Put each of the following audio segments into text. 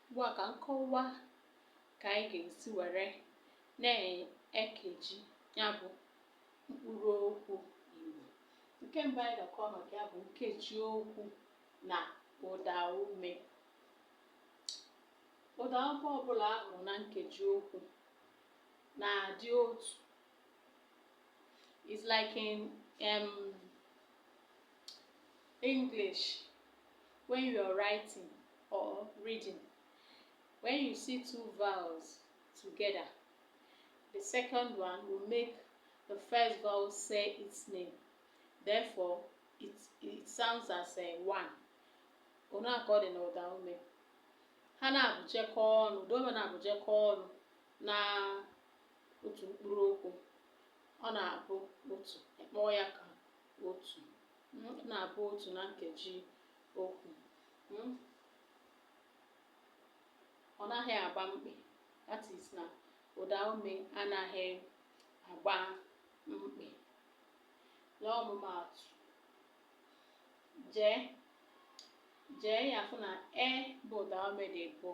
Ugbu a ka m kọwa ka anyị ga-esi were na-ekeji ya bụ mkpụrụ okwu Igbo. Nke mbụ anyị ga-akọ maka ya bụ nkeji okwu na ụda ume. Ụda ume ọbụla a hụrụ na nkeji okwu na-adị otu It's like in um, English when you are writing or reading. When you see two vowels together, the second one will make the first vowel say its name. Therefore, it, it sounds as a one. Otu a ka ọ dị n'ụda ume. Ha naabụ jekọ ọnụ, ụda ume naabụ jekọ ọnụ na otu mkpụrụ okwu ọ na-abụ otu ị kpọọ ya ka otu ọ na-abụ otu na nkeji okwu hmm? ọ naghị agba mkpị that is na ụda ume anaghị agba mkpị n'ọmụmaatụ jee jee ị ya-afụ na e bụ ụda ume dị abụọ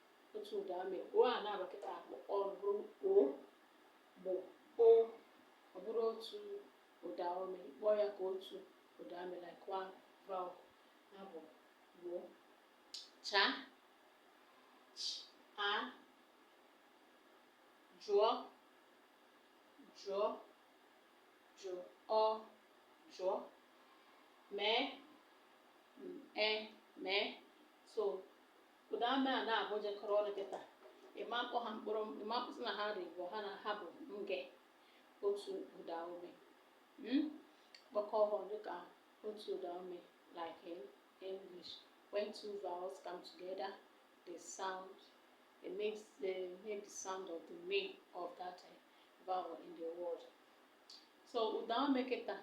otu ụda ume o a naabụ kịta ọ bụrụ o gboo o ọ bụrụ otu ụda ume kpọọ ya ka otu ụda ume like one vowel ya bụ gboo cha ch a jụọ jụọ jụọ ọ jụọ mee m e mee so Ụda ume a naabụ jekọrọ ọnụ kịta ị ma-akpọ ha mkpụrụ ị ma-akpọsị na ha dị ịbụa na ha bụ nge otu ụda ume mm? kpọkọ ha ọnụ ka otu ụda ume like in English when two vowels come together they sound it makes the make the sound of the name of that uh, vowel in the word so ụda ume kịta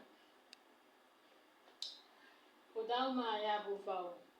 ụda ume a ya bụ vowel